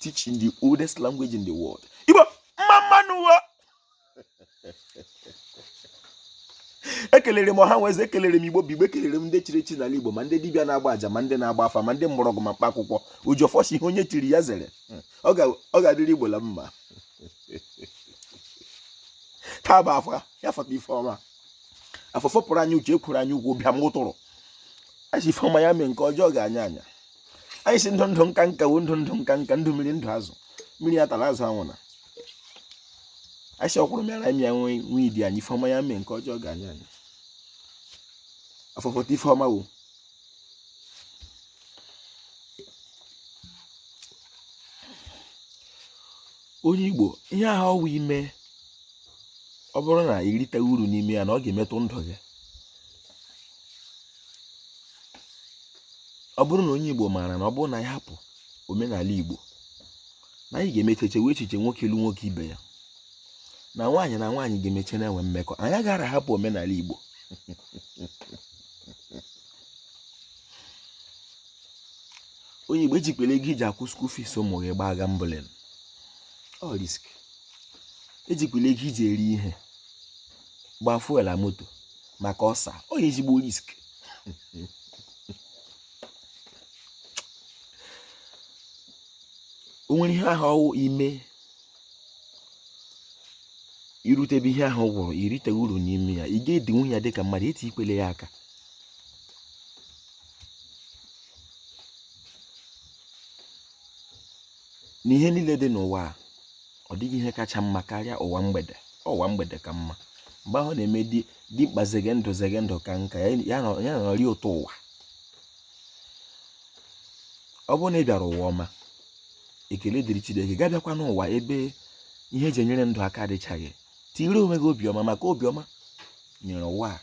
teach in the oldest language in the world igbo mma mma nụ wo ekelere m ọha na eze ekelere m igbo bụ igbo ekelere m ndị chiri echi n'ala igbo ma ndị dibịa na-agba aja ma ndị na-agba afa ma ndị mgbọrọgwụ ma mkpa akwụkwọ oji ọfọ sị ihe onye chiri ya zere ọ ga-adịrị igbo la mma taa bụ afọ ya fọta ife ọma afọ fọpụrụ anyị uche ekwuru anyị ugwu bịa m ụtụrụ anyị sị ife ọma ya mee nke ọjọọ gaa anya anya anyị sị ndụ ndụ nka nka wo ndụ ndụ nka nka ndụ mmiri ndụ azụ mmiri atala azụ anwụna anyị sị ọkwụrụ mịara anyị mịa nwie di anyị ife ọma ya mee nke ọjọọ gaa anya anya afọ fọta ife ọma wo onye igbo ihe ahụ ọ wụ i me ọ bụrụ na i riteghị uru n'ime ya na ọ ga-emetụ ndụ gị ọ bụrụ na onye Igbo maara na ọ bụrụ na anyị hapụ omenala Igbo na anyị ga-emecha chewe echiche nwoke ịlụ nwoke ibe ya na nwaanyị na nwaanyị ga-emecha na-enwe mmekọ anyị agaghị ahapụ omenala Igbo onye Igbo ejikwele ego i ji akwụ school fees ụmụ gị gbaa gambling ọ risk ejikwele ego i ji eri ihe gbaa fuel na moto maka ọsa ọ ya ezigbo risk o nwere ihe ahụ ọ wụ i me irutebe ihe ahụ wụrụ i rite uru n'ime ya ị ga-edinwu ya dịka mmadụ etiikwele ya aka na ihe niile dị n'ụwa a ọ dịghị ihe kacha mma karịa ụwa mgbede ụwa mgbede ka mma mgbe ahụ na-eme dimkpa zege ndụ zege ndụ ka nka ya nọrị ụtọ ụwa ọ bụrụ na ị bịara ụwa ọma ekele dịrị Chineke gị abịakwa n'ụwa ebe ihe e ji enyere ndụ aka adịchaghị tiri onwe gị obiọma maka obiọma nyere ụwa a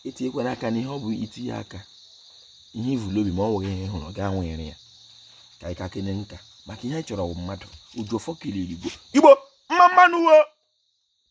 etinyekwana aka n'ihe ọ bụ i tinye aka ihe ivulu obi ma ọ nweghị ihe ị hụrụ gaa nwere ya ka anyị ka kene nka maka ihe anyị chọrọ bụ mmadụ oji ọfọ kelere igbo igbo mma mma nụ wo